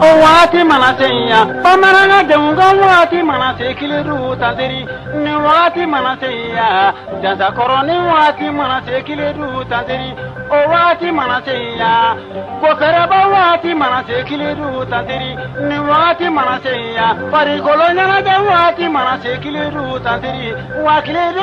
O waati mana se ya bamanan denw ka waati mana se Kiledu ta n teri ni waati mana se ya jasa kɔrɔnin waati mana se Kiledu ta n teri o waati mana se ya ko kɛra waati mana se Kiledu ta n teri ni waati mana se ya farikoloɲɛnajɛ waati mana se Kiledu ta n teri wa Kiledu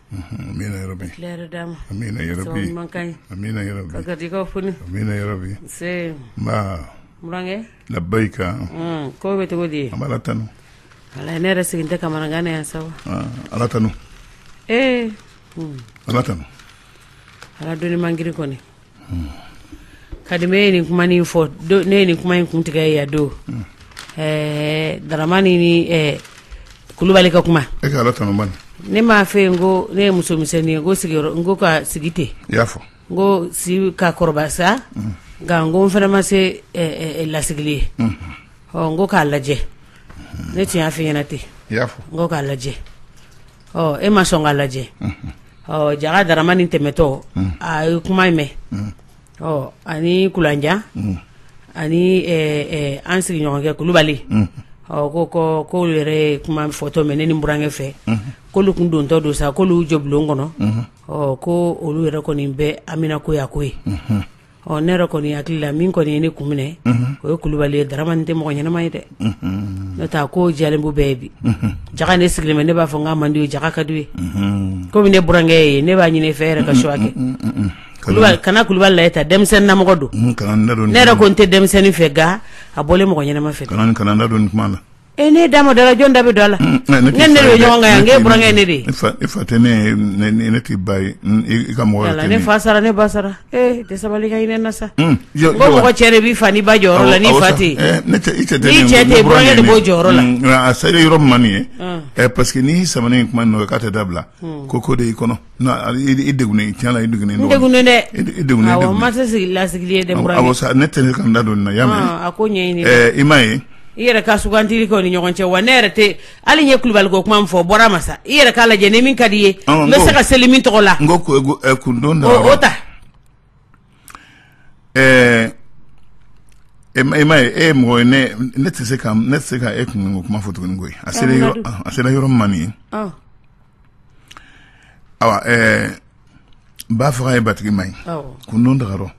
Amina ya rabi. Kila yɛrɛ d'a ma. Amina ya rabi. Sababu ɲuman ka ɲi. Amina ya rabi. Ka garijɛgɛw foni. Amina ya rabi. Nse. Nba. Burankɛ. Labayika. Un ko bɛ cogo di? An b'Ala tanu. Walayi ne yɛrɛ sigilen tɛ kamanagan na yan sa o. Aa Ala tanu. Ee. Ala tanu. Ala doni man girin kɔni. kabini e ye nin kuma in fɔ don ne ye nin kuma in kuntigɛ yan don daramani ni kulubali ka kuma e ne m'a fɔ i ye n ko ne ye musomisɛnnin ye n ko sigiyɔrɔ n ko ka sigi ten i y'a fɔ n ko si ka kɔrɔbaya sa nka n ko n fana ma se lasigili ye ɔ n ko k'a lajɛ ne tun y'a fɔ i ɲɛ na ten i y'a fɔ n ko k'a lajɛ ɔ e ma sɔn k'a lajɛ ɔ jaka daramani tɛmɛtɔ a ye kuma in mɛn ɔ ani kulanjan ani an sigiɲɔgɔnkɛ kulubali ɔ ko ko k'olu yɛrɛ ye kuma fɔtɔ mɛn ne ni burankɛ fɛ k'olu tun dontɔ don sa k'olu jɔ bulon kɔnɔ ɔ ko olu yɛrɛ kɔni bɛ an mina ko ye a ko ye Ɔ ne yɛrɛ kɔni hakili la min kɔni ye ne kun minɛ o ye kulubali ye daramani tɛ mɔgɔ ɲɛnama ye dɛ ne taa ko jabu bɛɛ ye bi jaka ne sigilen mɛ ne b'a fɔ n k'a man di i ye jaka a ka di i ye kɔmi ne burankɛ ye ne b'a ɲini i fɛ i yɛrɛ ka suwa kɛ kana kulubali la ta denmisɛnninmɔgɔ don ne yɛrɛ ko n tɛ denmisɛnnin fɛ nka a bɔlen mɔgɔ ɲɛnama fɛ e ne da ma dala jɔn da bɛ don a la n ko e ni ne de bɛ ɲɔgɔn kan yan n k'i burankɛ ye ne de ye i fa tɛ ne ye ne t'i ba ye i ka mɔgɔ tɛ ne fa sara ne ba sara ee i tɛ sabali ka hinɛ n na sa ko mɔgɔ cɛ de b'i fa n'i ba jɔyɔrɔ la n'i fa tɛ ne tɛ i cɛ tɛ n'i cɛ tɛ burankɛ de b'o jɔyɔrɔ la a selen yɔrɔ min nin ye ɛ parce que n'i sama in kuma nɔ k'a tɛ dabila ko ko de y'i kɔnɔ I degunnen tiɲɛ na i degunnen dɛ ma se lasigili ye dɛ ne tɛ ne ka n da don na ya a ko ɲɛ i ma ye i yɛrɛ ka sugantiri kɛ o ni ɲɔgɔn cɛ wa ne yɛrɛ tɛ hali ye kulubali ko kuma fɔ bɔra ma sa i yɛrɛ k'a lajɛ ni min ka di i ye n bɛ se ka seli min tɔgɔ la n ko kundon ta ɛɛ e ma e ma ye e ye mɔgɔ ye ne ne tɛ se ka ne tɛ se ka e kunko kuma fɔ tuguni koyi a sera yɔrɔ a sera yɔrɔ min ma nin ye awa ɛɛ ba faga ye batigi ma ye kun don daga rɔ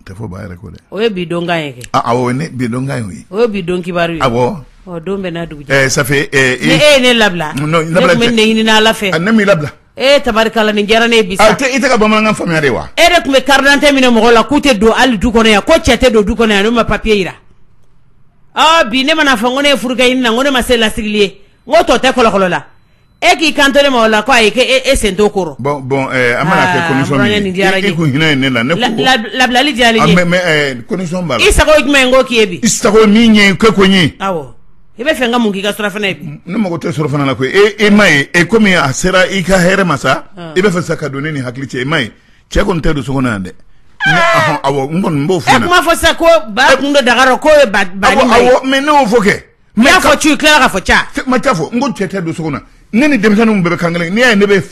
tɛ fɔ ba yɛrɛ ko dɛ o ye bi donkan ye kɛ awɔ ne bi donkan ye o ye o ye bi don kibaru ye awɔ ɔ don bɛɛ n'a dugujɛ ɛɛ ça fait ɛɛ e ye ne labila ne tun bɛ nin de ɲini ala fɛ ne m'i labila e tabarikala ni diyara ne bi i tɛ ka bamanankan faamuya de wa e de tun bɛ karidante minɛ mɔgɔ la k'u tɛ don ali du kɔnɔ yan ko cɛ tɛ don du kɔnɔ yan n'u ma papiye jira ɔ bi ne mana fɔ ko ne ye furakɛ ɲini na ko ne ma se lasigili ye n ko tɔ tɛ kɔlɔkɔlɔ la e k'i kanto ne ma o la k' a ye k' e sen to kɔrɔ bɔn bɔn an mana kɛ ko hinɛ ne la ne labilali diyara i sago jumɛn ko k'i bi sago min ye ko ko n ye i bɛ fɛ ka mun k'i ka surɔfana ye ne mago tɛ surɔfana la koyi e e ma ye e kɔmi a sera i ka hɛrɛ ma sa i bɛ fɛ sa ka don ne ni hakili cɛ i ma ye cɛ kɔni tɛ don so kɔnɔ dɛ n kɔni b'o fɔ b'a fɔ sa ko ba kun don daga ko mɛ ne y'o fɔ kɛ n y'a fɔ ci i tila ka fɔ ca ma taa fɔ n ko cɛ tɛ don so kɔnɔ ne ni denmisɛnninw bɛɛ bɛ kan kelen n'i y'a ye ne bɛ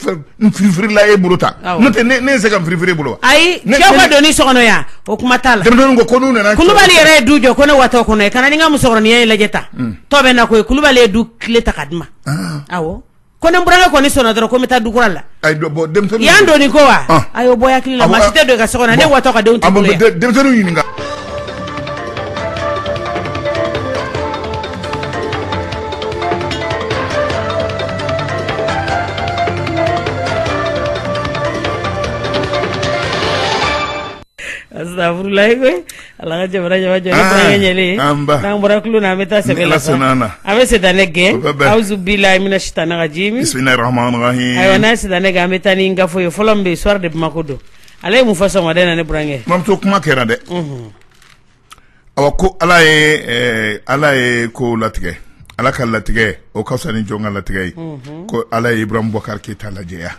firifirila e bolo ta n'o tɛ ne ye se ka firifiri e bolo ayi cɛw ka donni so kɔnɔ yan o kuma t'a la denmisɛnninw ko ko n'u nana kulubali yɛrɛ ye du jɔ ko ne watɔ kɔnɔ ye ka na ni n ka musokɔrɔnin ye lajɛ ta hmm. tɔ bɛ na ko ye kulubali ye du kile ta k'a di n ma ah. awɔ ko ni n burankɛ kɔni sɔnna dɔrɔn ko n bɛ taa du kura la Ayi dɔ bɔ denmisɛnninw yan donni ko wa ɔn ayi o bɔ i hakili la maa si tɛ don i ka so kɔnɔ ne watɔ ka denw t'i bolo yan denmisɛnninw ɲininka Asitafurulayi ala ka jamana ɲɛjɛ n'an bɔra kulu na an bɛ taa sɛbɛn la an bɛ sitanɛ gɛn awuzu bilahi mina sitani rajimi ne sisan ne an bɛ taa ni n ka fo ye fɔlɔ min bɛ sɔɔri de ma ko don ale ye mun fɔ sama na ne burankɛ mamuso kuma kɛra dɛ ɔ ko ala ye ala ye ko latigɛ ala ka latigɛ o ka fisa ni jɔn ka latigɛ ye ko ala ye ibrahim bubakari keyita lajɛya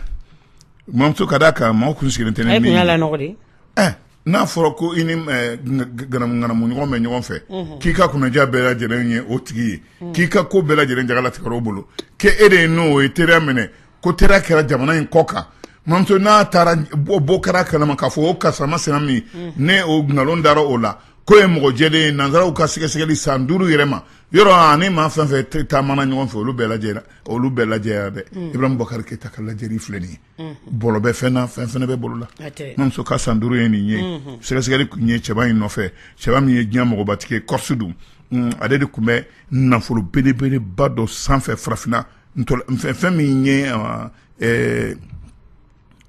Mamuso ka da kan maaw tun sigilen tɛ ne ni ye, e tun y'a lanɔgɔ de, ɛ n'a fɔra ko i ni ŋanamuɲɔgɔn bɛ ɲɔgɔn fɛ, unhun, k'i ka kunnaja bɛɛ lajɛlen ye o tigi ye, unhun, k'i ka ko bɛɛ lajɛlen jagalatigɛ o bolo, ko e de ye n'o ye teriya minɛ ko teriya kɛra jamana in kɔ kan, mamuso n'a taara bɔ kɛra a kalama k'a fɔ o karisa masina min ye o nkalon dara o la k'o ye mɔgɔ jɛlen ye nansaraw ka sɛgɛsɛgɛli san duuru yɛrɛ ma yɔrɔ a ni maa fɛn o fɛn taamana ɲɔgɔn fɛ olu bɛɛ lajɛra olu bɛɛ lajɛya dɛ mm. ibrahim bubakari keyita ka lajɛri filɛ nin ye mm-hmm. bolo bɛ fɛn na fɛn fana bɛ bolo la mamuso ka san duuru ye nin ye mm-hmm. sɛgɛsɛgɛli tun ye cɛba in nɔfɛ cɛba min ye diɲɛ mɔgɔbatigi ye kɔrisi dun mm, ale de tun bɛ nafolo belebeleba dɔ sanfɛ farafinna fɛn min ye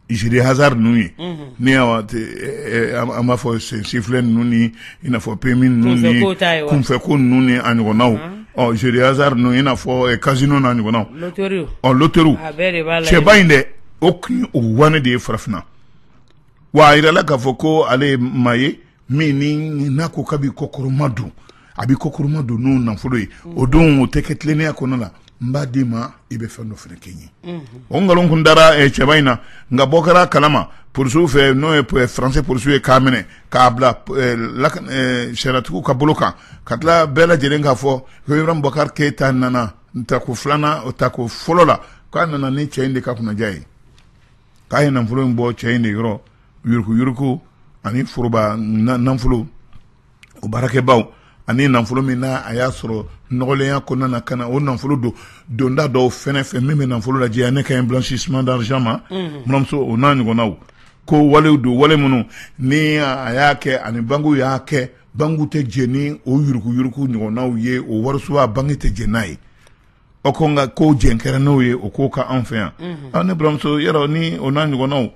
jeux de hasard ninnu ye ni an b'a fɔ chiffre ninnu ni i n'a fɔ PMU ninnu ni kunfɛ ko ninnu ni a ɲɔgɔnnaw ɔ jeux de hasard ninnu ye i n'a fɔ casino ninnu n'a ɲɔgɔnnaw ɔ loterie cɛba in de tun y'o waanɛ ye farafinna wa a jirala k'a fɔ ko ale ye maa ye min ni n'a ko k'a b'i kɔkɔrɔmadon a b'i kɔkɔrɔmadon n'o nafolo ye o don o tɛ kɛ tilennenya kɔnɔ la n b'a d'i ma i bɛ fɛn dɔ fana kɛ n ye o nkalon tun dara cɛba in na nka bɔ kɛra a kala ma polisiw fɛ n'o ye faransi polisiw ye k'a minɛ k'a bila sariyatigiw ka bolo kan ka tila bɛɛ lajɛlen k'a fɔ ibrahim bɔkari keyita nana ta ko filanan o ta ko fɔlɔ la k'a nana ni cɛ in de ka kunnaja ye k'a ye nafolo in bɔ cɛ in de yɔrɔ yuruku yuruku ani foroba nafolo o baarakɛbaaw ani nafolo min na a y'a sɔrɔ nɔgɔlenya kɔnɔna na ka na o nafolo don donda dɔw fɛ fɛn min bɛ nafolo lajɛya ne kan bɛ blanchissement d'argent ma buranmuso o n'a ɲɔgɔnnaw ko walew don wale minnu ni a y'a kɛ ani bankiw y'a kɛ bankiw tɛ jɛn ni o yuruku yuruku ɲɔgɔnnaw ye o wariso banki tɛ jɛn n'a ye o ko nka ko jɛn kɛra n'o ye o ko ka anw fɛ yan ani buranmuso yɛrɛ ni o n'a ɲɔgɔnnaw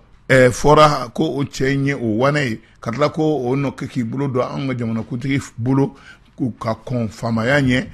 fɔra ko o cɛ in ye o waleya ka tila ko o nɔ kɛ k'i bolo don an ka jamanakuntigi bolo k'u ka kɔn faamaya ɲɛ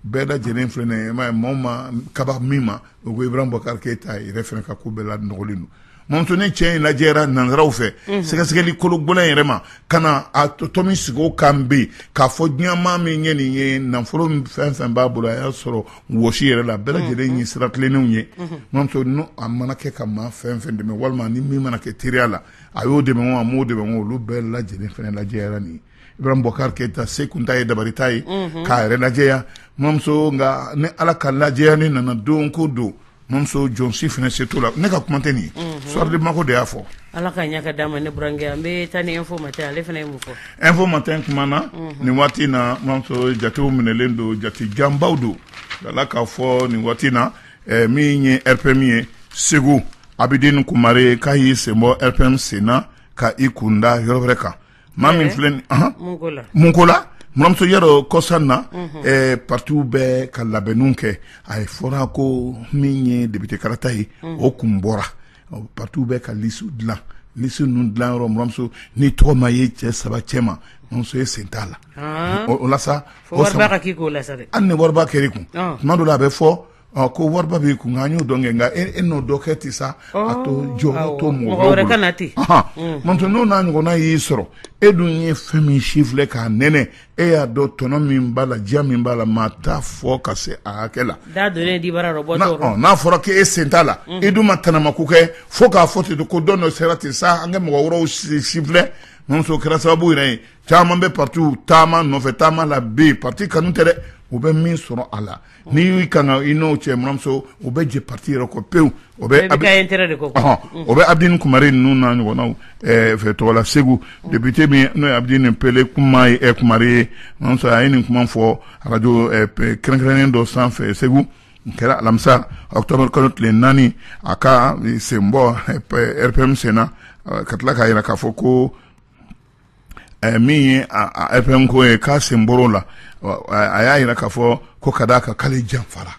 bɛɛ lajɛlen fana maa ma kaba min ma o ko ibrahim bɔkari keyita yɛrɛ fana ka ko bɛɛ la nɔgɔlen don Mamuso ni cɛ in lajɛyara nansaraw fɛ sɛgɛsɛgɛli kolo gɛlɛn yɛrɛ ma ka na a tomi sigi o kan bɛ k'a fɔ diɲɛmaa min ye nin ye nafolo fɛn fɛn b'a bolo a y'a sɔrɔ wɔsi yɛrɛ la bɛɛ lajɛlen ye sira tilennenw ye mamuso a mana kɛ ka maa fɛn fɛn dɛmɛ walima ni min mana kɛ teriya la a y'o dɛmɛ a m'o dɛmɛ olu bɛɛ lajɛlen fana lajɛyara nin ibrahim bɔkari keyita se kun t'a ye dabali t'a ye k'a yɛrɛ lajɛya mamuso nka ni ala ka lajɛyali nana don ko don mamuso jɔn si fana se t'o la ne ka kuma tɛ nin sɔden mako de y'a fɔ ala ka ɲɛ d'a ma ne burankɛ an bɛ taa ni info matin ale fana ye mun fɔ info matin kumana nin waati in na mamuso jatew minɛlen don jate janbaw don a la k'a fɔ nin waati in na min ye RPM ye segu abidini kumare k'a y'i sen bɔ RPM sen na ka i kun da yɔrɔ wɛrɛ kan maa min filɛ ni anhan mun ko la mun ko la buranmuso yɛrɛ kɔsa in na ɛɛ partiw bɛ ka labɛnniw kɛ a ye fɔra ko min ye député kalata ye o kun bɔra ɔ, partiw bɛ ka lisiw dilan lisi ninnu dilan yɔrɔ buranmuso n'i tɔgɔ ma ye cɛ saba cɛ ma buranmuso e sen t'a la o o la sa fo o wari sama- ba ka k'i kun o la sa dɛ hali ni wariba kɛr'i kun Ɔn. tuma dɔ la a bɛ fɔ ɔ ko wariba b'i kun an y'o dɔn kɛ nka e e n'o dɔ kɛ ten sa a to Ɔɔ, jɔ awɔ, to mɔgɔ mɔgɔ wɛrɛ ka na ten. Mm. n'o tɛ n'o n'a ɲɔgɔnna y'i sɔrɔ e dun ye fɛn min sifilɛ k'a nɛnɛ e y'a dɔn tɔnɔ min b'a la diya min b'a la maa t'a fɔ ka se a hakɛ la da donnen dibara rɔ n'a bɔtɔ ɔ, n'a fɔra k'e sen t'a la Mhm. i dun ma tanama ko kɛ fo k'a fɔ ten ko dɔn dɔ sera ten sa an ka mɔgɔ wɛrɛw si- sifilɛ muso kɛra sababu yɛrɛ ye caman bɛ partiw taama nɔfɛ taama la bɛ yen parti kanu tɛ dɛ u bɛ min sɔrɔ a la n'i y'i ka i n'o cɛ buramuso u bɛ jɛ pati yɛrɛ kɔ pewu o bɛ o bɛ abidin kumari ninnu na ɲɔgɔnna fɛ tɔgɔla segu depite min n'o ye abidin pele kuma ye kumari buramuso a ye nin kuma fɔ arajo kɛrɛnkɛrɛnnen dɔ sanfɛ segu n kɛra alamisa ɔkutɔburu kalo tile naani a ka senbɔ rpm senna ka tila k'a jira k'a fɔ ko Eh, min ye rpm ko ye k'a sen bɔra o la a y'a jira k'a fɔ ko ka d'a ka k'ale janfara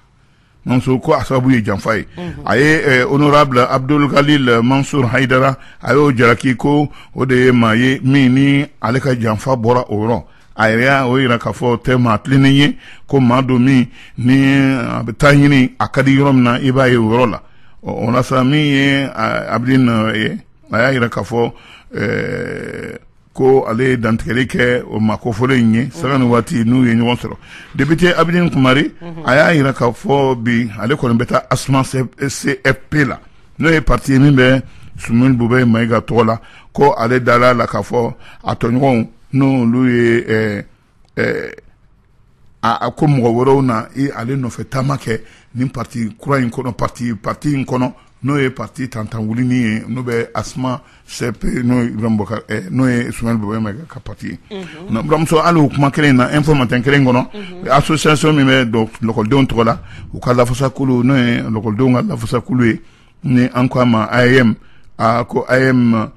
mamuso ko a sababu ye janfa ye mhm. a ye eh, honorable abudul galil mansur hayidara a y'o jaraki ko o de ye maa ye min ni ale ka janfa bɔra o yɔrɔ a yɛrɛ y'o jira k'a fɔ tɛ maa tilennen ye ko maa don min ni a bɛ taa ɲini a ka di yɔrɔ min na i b'a ye o yɔrɔ la o la sa min ye abidin ye a y'a jira k'a fɔ eh, ko ale ye dantigɛli kɛ o maa kofɔlen in ye sanga ni waati n'u ye ɲɔgɔn sɔrɔ député abidin kumari mhm. a y'a jira k'a fɔ bi ale kɔni bɛ taa asma cfp la n'o ye parti ye min bɛ sumeyilu bubɛyi mayiga tɔgɔ la ko ale dala a la k'a fɔ a tɔɲɔgɔnw n'olu ye eh, eh, a ko mɔgɔ wɛrɛw na ale nɔfɛ taama kɛ nin pati kura in kɔnɔ pati pati in kɔnɔ n'o ye pati tantan wulini ye n'o bɛ asma cfp n'obakari eh, n'o ye sumeyilu bubɛyi mayiga ka pati ye mhm. buramuso hali o kuma kelen in na info matin kelen kɔnɔ mhm. asosiyasɔn min bɛ lɔkɔlidenw tɔgɔ la u ka lafasakulu n'o ye lɔkɔlidenw ka lafasakulu ye ni an ko a ma aeem ko aeem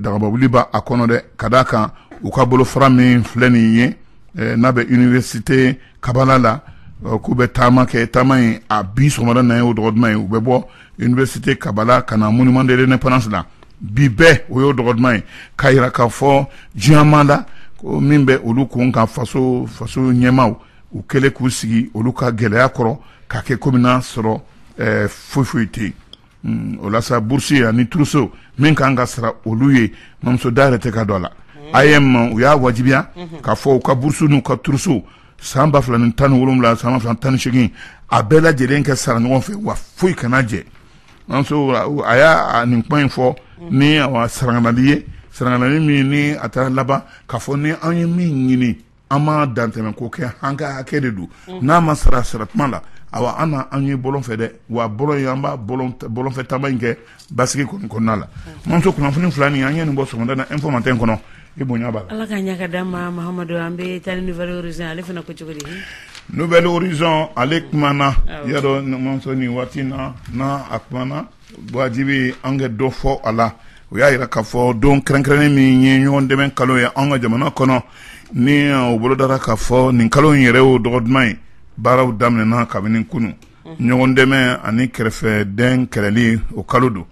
dagaba wuli b' a kɔnɔ dɛ ka d' a kan u ka bolofara min filɛ nin ye eh, n'a bɛ université kabala la eh, k'u bɛ taama kɛ taama in a bi sɔgɔmada na ye o dɔgɔ duman ye u bɛ bɔ université kabala ka na monument de l'indépendance la bi bɛɛ o y'o dɔgɔ duman ye k'a jira k'a fɔ diɲɛmaa la ko min bɛ olu kun kan faso faso ɲɛmaaw u kɛlen k'u sigi olu ka gɛlɛya kɔrɔ k'a kɛ komi n'a sɔrɔ foyi foyi tɛ yen o la sa bourse ani trousseau min ka kan ka sara olu ye mamuso da yɛrɛ tɛ ka don a la aeem u y'a wajibiya k'a fɔ u ka bourse n'u ka trousseau san ba fila ni tan ni wolowula san ba fila tan ni segin a bɛɛ lajɛlen ka sara ɲɔgɔn fɛ wa foyi kana jɛ a y'a nin kuma in fɔ ni sarali ye sarali min ni a taara laban k'a fɔ ni an ye min ɲini an ma dantɛmɛ ko kɛ an ka hakɛ de don mm. n'a ma sara sara tuma la awa aw na an ye bɔlɔn fɛ dɛ wa bɔlɔn ye an b'a bɔlɔnfɛ taama in kɛ basigi kɔni kɔnɔna la mm. mamuso kunnafoni fila nin an ye nin bɔ sɔgɔmada na info matin kɔnɔ i bonya b'a la ala k'a ɲa ka d'an ma mahamadu an bɛ taa ni nouvel horizon ale fana ko cogo di nouvel horizon ale kumana y'a dɔn mamuso nin waati na na a kumana Wajibi an ka dɔ fɔ a la o y'a jira k'a fɔ don kɛrɛnkɛrɛnnen min ye ɲɔgɔn dɛmɛ kalo ye an ka jamana kɔnɔ ni o bolodara k'a fɔ nin kalo in yɛrɛ y'o dɔgɔ duman ye baaraw daminɛna kabini kunun ɲɔgɔn dɛmɛ ani kɛrɛfɛdɛn kɛlɛli o kalo don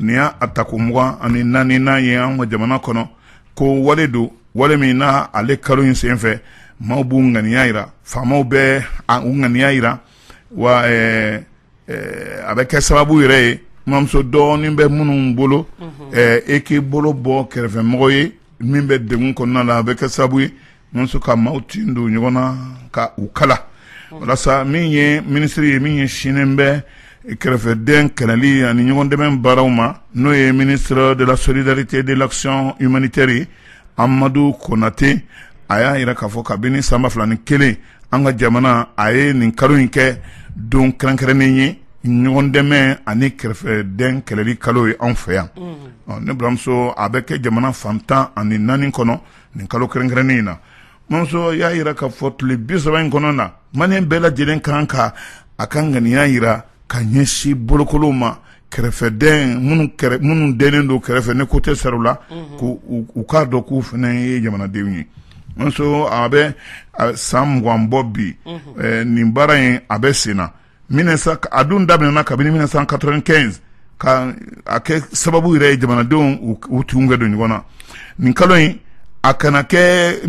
nin y'a tako mugan ani naaninan ye an ka jamana kɔnɔ ko wale don wale min n' ale kalo in senfɛ maaw b'u ŋaniya jira faamaw bɛ u ŋaniya jira wa a bɛ kɛ sababu yɛrɛ ye mamuso dɔɔnin bɛ minnu bolo e k'i bolo bɔ kɛrɛfɛmɔgɔ ye min bɛ degun kɔnɔna na a bɛ kɛ sababu ye ka maaw tin don ɲɔgɔn na ka u kala walasa min ye minisiri ye min ɲɛsinnen bɛ kɛrɛfɛdɛn kɛlɛli ani ɲɔgɔn dɛmɛ baaraw ma n'o ye ministre de la solidarité de l'action humanitaire amadu konate a y'a jira k'a fɔ kabini san ba fila ni kelen an ka jamana a ye nin kalo in kɛ don kɛrɛnkɛrɛnnen ye ɲɔgɔn dɛmɛ ani kɛrɛfɛdɛn kɛlɛli kalo ye anw fɛ yan ne baramuso a bɛ kɛ jamana fan tan ani naani kɔnɔ nin kalo kɛrɛnkɛrɛnnen in na mamuso y'a jira k'a fɔ tile bi saba in kɔnɔna maliyɛn bɛɛ lajɛlen ka kan ka a ka ŋaniya jira ka ɲɛsin bolokolonw ma kɛrɛfɛ minnu dɛnnen don kɛrɛfɛ ni ko tɛ sara u la u k'a dɔn k'u fana ye jamanadenw ye mamuso a bɛ san mugan bɔ bi nin baara in a bɛ sen na a dun daminɛna kabini san quatre-vingt-quinze ka a kɛ sababu yɛrɛ ye jamanadenw u tinw kɛ don ɲɔgɔn na nin kalo in a kana kɛ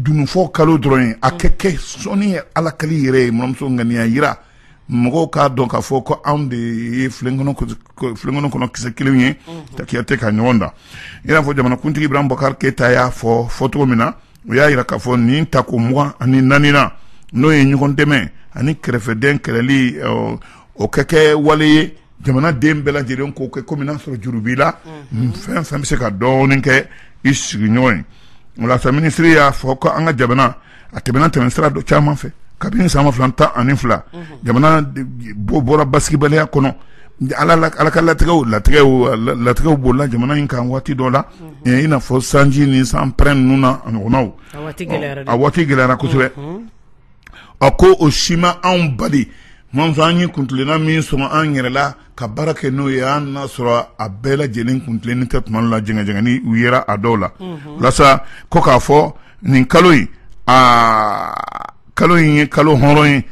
dununfɔ kalo dɔrɔn ye a kɛ kɛ sɔnni ye ala kali yɛrɛ ye mamuso ŋaniya jira mɔgɔw k'a dɔn k'a fɔ ko anw de ye filen kɔnɔ kisɛ kelen ye ka kiyate ka ɲɔgɔn da i n'a fɔ jamanakuntigi ibarahimu bubakari keyita y'a fɔ cogo min na o y'a jira k'a fɔ nin tako mugan ani naaninan n'o ye ɲɔgɔn dɛmɛ ani kɛrɛfɛdɛn kɛlɛli o kɛ kɛ wale ye jamanaden bɛɛ lajɛlen k'o kɛ kɔmi n'a sɔrɔ juru b'i la fɛn fɛn bɛ se ka dɔɔnin kɛ i sigiɲɔgɔn ye o la sa minisiri y'a fɔ ko an ka jamana a tɛmɛna tɛmɛsira dɔ caman fɛ kabini san ba fila tan ani fila jamana bɔra basigibaliya kɔnɔ ala ka latigɛw latigɛw bolila jamana in kan waati dɔ la i n'a fɔ sanji ni sanpɛrɛn ninnu n'a ɲɔgɔnnaw a waati gɛlɛyara kosɛbɛ a ko o si ma anw bali mamuso an ye kuntilenna min sɔrɔ an yɛrɛ la ka baara kɛ n'o ye an n'a sɔrɔ a bɛɛ lajɛlen kuntilennen tɛ tuma la jɛngɛjɛngɛni yera a dɔw la walasa ko k'a fɔ nin kalo in kalo in ye kalo hɔrɔn ye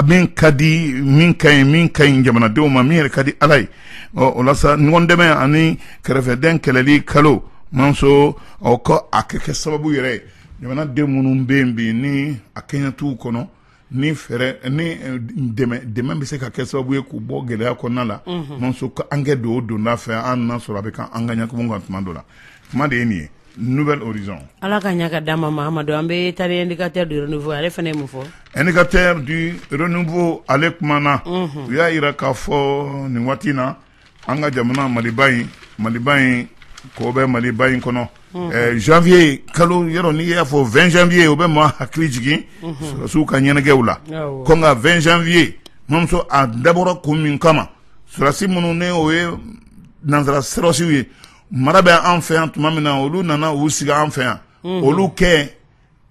min ka di min ka ɲi jamanadenw ma min yɛrɛ ka di ala ye o la sa ɲɔgɔn dɛmɛ ani kɛrɛfɛdɛn kɛlɛli kalo mamuso ɔ ko a kɛ kɛ sababu yɛrɛ jamanaden minnu bɛ yen bi ni a kɛɲɛtigiw kɔnɔ ni fɛɛrɛ ni eh, dɛmɛ bɛ se ka kɛ sababu ye k'u bɔ gɛlɛya kɔnɔna la mhm. mamuso ko an kɛ don o donda fɛ an na sɔrɔ a bɛ ka an ka ɲakumu kan tuma dɔ la kuma de ye nin ye nouvel horizon ala ka ɲa ka d'a ma mahamadu an bɛ taa l'indicateur du renouveau ale fana ye mun fɔ indicateur du renouveau ale kumana mhm. u y'a yira k'a fɔ nin waati in na an ka jamana maliba in maliba in ko bɛ maliba in kɔnɔ ɛɛ janvier kalo yɔrɔ n'i y'a fɔ 20 janvier o bɛ maa hakili jigin sɔrɔdasiw ka ɲɛnajɛw la Awɔ. ko nka 20 janvier mamuso a dabɔra kun min kama sɔrɔdasi minnu ni o ye nansara sɔrɔdasiw ye mara bɛ an fɛ yan tuma min na olu nana u sigi an fɛ yan olu kɛ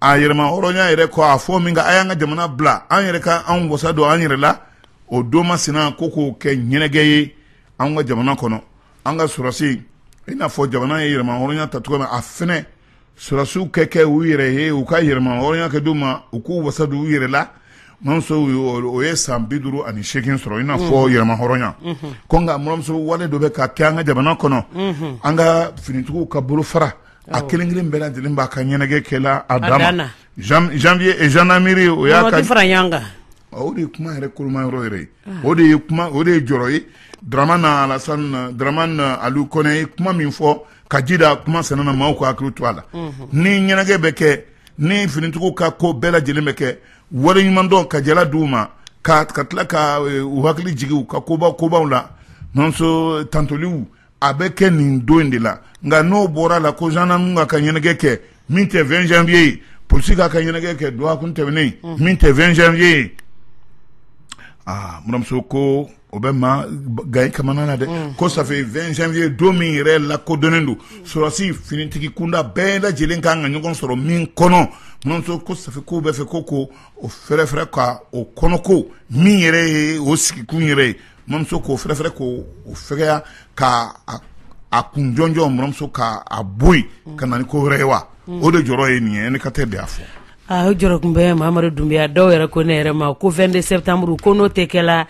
a yɛrɛmahɔrɔnya yɛrɛ kɔ a fɔ min ka a y'an ka jamana bila an yɛrɛ ka anw wasa don an yɛrɛ la o don masina ko k'o kɛ ɲɛnajɛ ye an ka jamana kɔnɔ an ka sɔrɔsi i n'a fɔ jamana ye yɛrɛmahɔrɔnya ta cogo min a fɛnɛ sɔrɔsiw kɛ kɛ u yɛrɛ ye u ka yɛrɛmahɔrɔnya kɛ d'u ma u k'u wasa don u yɛrɛ la muramuso o ye san bi duuru ani seegin sɔrɔ i n'a fɔ yɛrɛmahɔrɔnya ko nka muramuso wale dɔ bɛ ka kɛ an ka jamana kɔnɔ an ka finitigiw ka bolofara a kelen kelen bɛɛ lajɛlen b'a ka ɲɛnajɛ kɛ la a dama janvier gendarmerie o y'a fara ɲɔgɔn kan o de ye kuma yɛrɛ koloma yɔrɔ yɛrɛ ye o de ye jɔrɔ ye dramane aliou kɔnɛ ye kuma min fɔ ka ji da a kuma sen na maaw ka hakili to a la ni ɲɛnajɛ bɛ kɛ ni finitigiw ka ko bɛɛ lajɛlen bɛ kɛ waleɲumandɔn ka jala d'u ma ka ka tila ka u hakili jigin ka koba kobaw la mamuso tantoliw a bɛ kɛ nin don in de la nka n'o bɔra la ko gendarme k'a ka ɲɛnajɛ kɛ min tɛ 20 janvier ye polisi k'a ka ɲɛnajɛ kɛ dɔgɔkun tɛmɛnen min tɛ 20 janvier ye muramuso ko o bɛ maa gan kamana na dɛ ko ça fait 20 janvier ye don min yɛrɛ lakodɔnnen don sɔrɔsi finitigi kunda bɛɛ lajɛlen ka kan ka ɲɔgɔn sɔrɔ min kɔnɔ ko ça fait ko bɛ fɛ ko ko o fɛrɛfɛrɛ ka o kɔnɔko min yɛrɛ ye o sigikun yɛrɛ ye mamuso k'o fɛrɛfɛrɛ ko o fɛgɛya ka a kun jɔnjɔn mamuso ka a bɔ yen ka na ni ko wɛrɛ ye wa o de jɔrɔ ye nin ye indicateur de y'a fɔ aa jɔrɔ tun bɛ mamadu dunbiya dɔw yɛrɛ ko ne yɛrɛ ma ko 22 septembre ko n'o tɛ kɛ la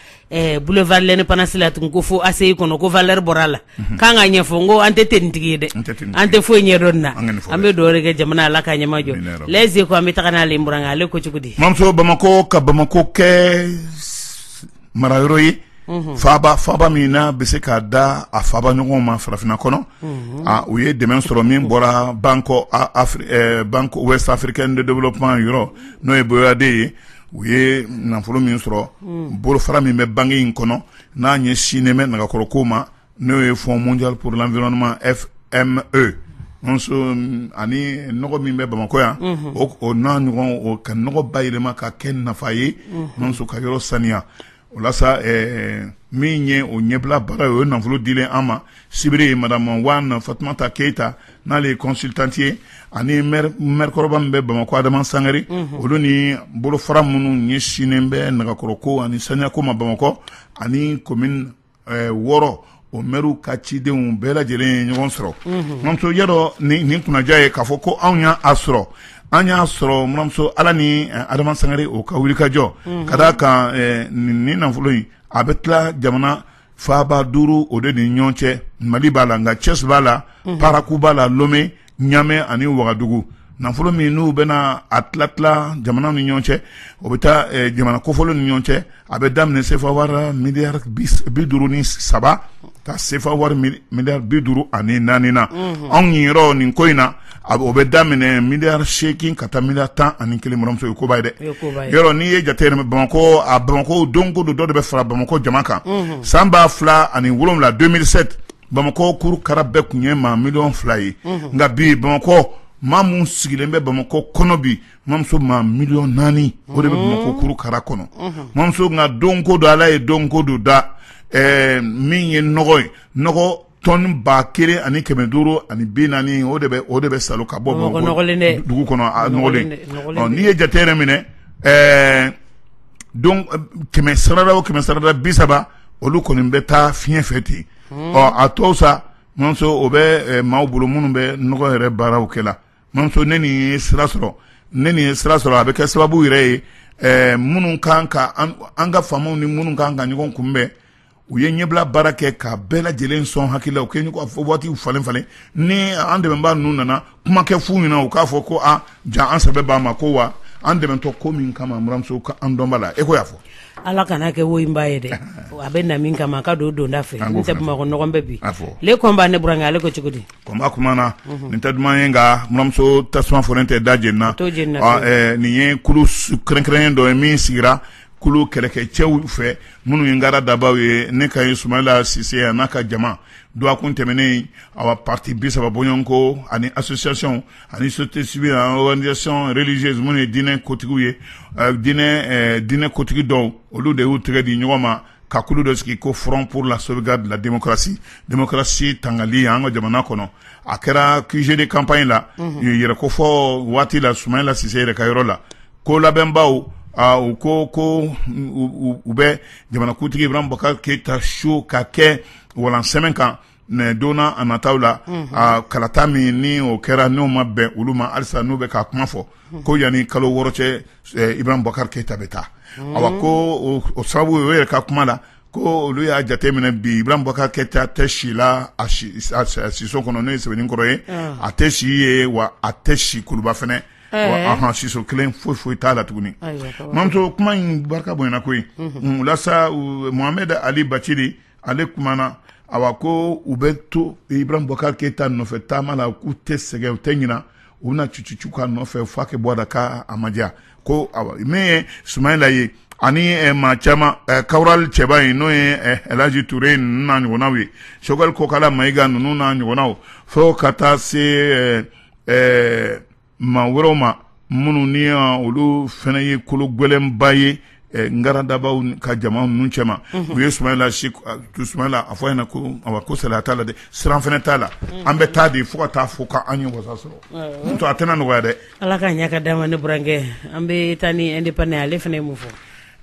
boulevard l'indépendance la tun ko fo ACI kɔnɔ ko valeur bɔra a la k'an ka ɲɛfɔ ko an tɛ tenitigi ye dɛ an tɛ foyi ɲɛdɔn na an bɛ dugawu kɛ jamana ala ka ɲɛmajɔ les échos an bɛ taa n'aleuran ale ko cogo di mamuso bamakɔ ka bamakɔ kɛ marayɔrɔ ye faba faba min n'a bɛ se k'a da a faba ɲɔgɔn ma farafinna kɔnɔ u ye dɛmɛ sɔrɔ min bɔra banque ouest africaine de développement yɔrɔ n'o ye BOAD ye u ye nafolo min sɔrɔ bolofara min bɛ banque in kɔnɔ n'a ɲɛsinnen bɛ nagakɔrɔ ko ma n'o ye Fonds mondial pour l'environnement FME ani nɔgɔ min bɛ bamakɔ yan o n'a ɲɔgɔn ka nɔgɔ bayɛlɛma ka kɛ nafa ye muso ka yɔrɔ saniya o min ye o ɲɛbila baara ye o ye nafolo di an ma sibiri ye madamu wan fatumata keyita n'ale ye consultante ye ani mɛri kɔrɔba min bɛ bamakɔ adama sangare olu ni bolofara minnu ɲɛsinnen bɛ nɛgɛkɔrɔ ko ani saniyako ma bamakɔ ani ko wɔɔrɔ o mɛriw ka cidenw bɛɛ lajɛlen ye ɲɔgɔn sɔrɔ muramuso yadɔ nin kunnaja ye k'a fɔ ko anw y'a sɔrɔ an y'a sɔrɔ muramuso ala ni adama sangare o ka wulikajɔ ka d'a kan nin nafolo in a bɛ tila jamana faaba duuru o de ni ɲɔgɔn cɛ mali b'a la nka cɛsi b'a la paraku b'a la lome ɲamɛ ani wagadugu nafolo min n'u bɛna a tilatila jamana ni ɲɔgɔn cɛ o bɛ taa eh, jamana kofɔlen ni ɲɔgɔn cɛ a bɛ daminɛ sefa wari miliyari bi duuru ni saba ka sefa wari miliyari bi duuru ani naani na mhm. anw niyɔrɔ nin ko in na o bɛ daminɛ miliyari seegin ka taa miliyari tan ani kelen muramuso ye koba ye dɛ yɔrɔ n'i ye jate yɛrɛ bamakɔ a bamakɔ don ko don dɔ de bɛ fara bamakɔ jama kan mhm. san ba fila ani wolonwula bamakɔ kuru kara bɛɛ tun ye maa miliyɔn fila ye nka bi bamakɔ maa minnu sigilen bɛ bamakɔ kɔnɔ bi muramuso maa miliyɔn naani o de bɛ bamakɔ kuru kara kɔnɔ muramuso nka don ko don ala ye don ko don da min ye nɔgɔ ye nɔgɔ tɔni ba kelen ani kɛmɛ duuru ani bi naani o de o de bɛ sa ka bɔ dugu kɔnɔ n'i ye jate yɛrɛ minɛ kɛmɛ sarada o kɛmɛ sarada bi saba olu kɔni bɛ taa fiɲɛ fɛ ten ɔ a tɔw sa muramuso o bɛ maaw bolo minnu bɛ nɔgɔ yɛrɛ baaraw kɛ la muramuso ni nin ye sira sɔrɔ ni nin ye sira sɔrɔ a bɛ kɛ sababu yɛrɛ ye minnu kan ka an ka faamaw ni minnu kan ka ɲɔgɔn kunbɛn u ye ɲɛbila baara kɛ ka bɛɛ lajɛlen sɔn hakili la u kɛ fɔ waatiw falen falen ni an dɛmɛbaa ninnu nana kuma kɛ fu ɲɛna u k'a fɔ ko jaa an sɛbɛ b'a ma ko wa an dɛmɛtɔ ko min kama muramuso ka an dɔnba la e ko y'a fɔ ala kana kɛ wo in b'a ye dɛ a bɛ na min kama a ka don donda fɛ An b'o n tɛ fana bamakɔ nɔgɔn bɛɛ bi A fɔ. le kɔn b'a ne burankɛ ale ko cogo di kɔnba kuma na nin tɛ duman ye nka muramuso tasuma fɔlen tɛ da jenina t'o jenina Ɔ, fiyewu. eh, nin ye kulu su- kɛrɛnkɛrɛnnen dɔ ye min sigira kulu kɛlɛkɛcɛw fɛ minnu ye ngara dabaw ye ne ka ye sumayila sise a n'a ka jama Dɔgɔkun tɛmɛnen a pati bi saba bɔɲɔgɔnko ani association ani société civile ani organisation religieuse minnu ye diinɛ kotigi ye diinɛ kotigi dɔw olu de y'u tɛgɛ di ɲɔgɔn ma ka kulu dɔ sigi ko Front pour la sauvegarde de la démocratie démocratie tangali an ka jamana kɔnɔ a kɛra QG de campagne la yɛrɛ ko fɔ waati la sumayila sise yɛrɛ ka yɔrɔ la ko labɛnbaw u ko ko u bɛ jamanakuntigi bubakari keyita ta so ka kɛ walan sɛmɛ kan mɛ donna a nata la kalata min ni o kɛra n'o ma bɛn olu ma halisa n'u bɛ ka kuma fɔ ko yanani kalo wɔɔrɔ cɛ ibrahim bɔkari keyita bɛ taa a ko o sababu o yɛrɛ ka kuma la ko olu y'a jateminɛ bi ibrahim bɔkar keyita tɛ si la a siso kɔnɔ n'o ye sɛbɛninkɔrɔ ye a tɛ si yen wa a tɛ si kuluba fana a siso kelen foyi foyi t'a la tuguni mamuso kuma in barika bonyana koyi walasa mohamɛd ali bacili ale kumana awa ko u bɛ to ibrahim bɔkar keyita nɔfɛ taama la k'u tɛ sɛgɛn u tɛ ɲina u bɛna cucucu k'a nɔfɛ f'a kɛ bɔ da ka a madiya ko awa min ye sumayila ye ani eh, maa caman eh, kawurali cɛba in n'o ye eh, elaji ture ninnu n'a ɲɔgɔnnaw ye sogɛli kokala mayiga ninnu n'a ɲɔgɔnnaw fo ka taa se eh, eh, maa wɛrɛw ma minnu ni olu fana ye kolo gɛlɛnba ye ngara dabaw ka jama ninnu cɛma u ye sumayila a fɔ an ɲɛna ko a ko salaya t'a la dɛ siran fana t'a la an bɛ taa de fo ka taa fo k'an ye wasa sɔrɔ n'o tɛ a tɛna nɔgɔya dɛ ala ka ɲɛ ka d'a ma ne burankɛ an bɛ taa ni indépendant ale fana ye mun fɔ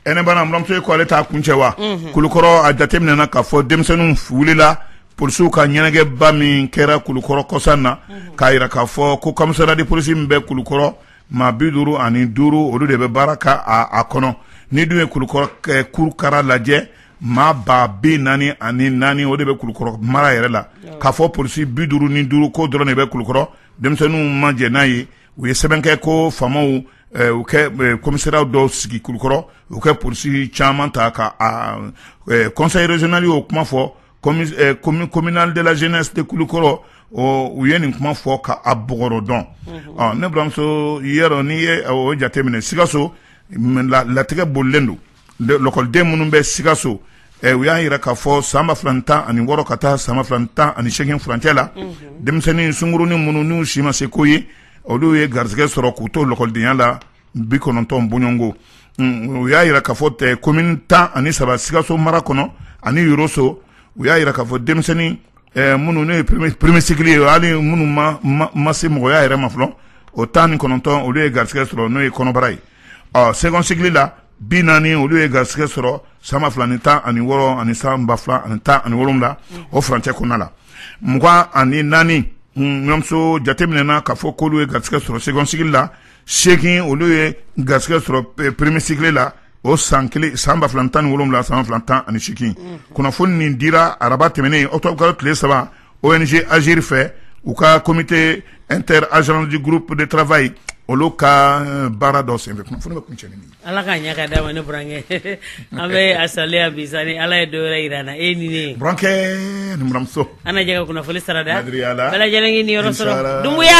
Ɛ ne bana buramuso ye ko ale t'a kuncɛ wa kulukɔrɔ a jateminɛna k'a fɔ denmisɛnninw wulila polisiw ka ɲɛnajɛba min kɛra kulukɔrɔ kɔsa in na k'a jira k'a fɔ ko komisariya de polisi min bɛ kulukɔrɔ maa bi duuru ani duuru olu de bɛ baara kɛ a kɔnɔ n'i dun ye kurukara lajɛ maa ba bi naani ani naani o de bɛ kulukɔrɔ mara yɛrɛ la k'a fɔ polisi bi duuru ni duuru k'o dɔrɔn de bɛ kulukɔrɔ denmisɛnninw ma jɛn n'a ye u ye sɛbɛn kɛ ko faamaw u kɛ komisariya dɔw sigi kulukɔrɔ u kɛ polisi caman ta ka a conseil régional y'o kuma fɔ communal de la jeunesse de kulukɔrɔ u ye nin kuma fɔ k'a bɔgɔɔrɔ dɔn ne buramuso yɛrɛ n'i ye o jateminɛ sikaso latigɛ bolilen don lɔkɔliden minnu bɛ sikaso eh, u y'a jira k'a fɔ san ba fila tan ani wɔɔrɔ ka taa san ba fila tan ani seegin furancɛ la mhm. denmisɛnnin sunkurunin minnu n'u si ma se ko ye olu ye garisɛgɛ sɔrɔ k'u to lɔkɔlidenya la bi kɔnɔntɔn bɔɲɔgɔnko mm, u y'a jira k'a fɔ komini tan ani saba sikaso mara kɔnɔ ani yoroso u y'a jira k'a fɔ denmisɛnnin eh, minnu n'o ye premier cycle ye hali minnu ma se mɔgɔya yɛrɛ ma fɔlɔ o tan ni kɔnɔntɔn olu ye garisɛgɛ sɔrɔ n'o ye kɔnɔbara ye ɔ second cycle la bi naani olu ye garisɛgɛ sɔrɔ san ba fila ni tan ani wɔɔrɔ ani san ba fila ani tan ani wolonwula o furancɛ kɔnɔna la mugan ani naani ɲɔmuso jateminɛna k'a fɔ k'olu ye garisɛgɛ sɔrɔ second cycle la seegin olu ye garisɛgɛ sɔrɔ premier cycle la o san kelen san ba fila ni tan ni wolonwula san ba fila ni tan ani seegin kunnafoni nin dira araba tɛmɛnen octobre kalo tile saba ONG Agir fɛ u ka comité inter agence du groupe de travail olu ka euh, baara dɔ senfɛ kunnafoni bɛ kuncɛ ni min ala ka ɲɛ ka d'a ma ne burankɛ an bɛ a saliya bi sa ni ala ye don wɛrɛ yira an na e ni ne burankɛ ni buranmuso an na jɛ ka kunnafoni sarada bɛɛ lajɛlen k'i niyɔrɔ sɔrɔ Dumbuya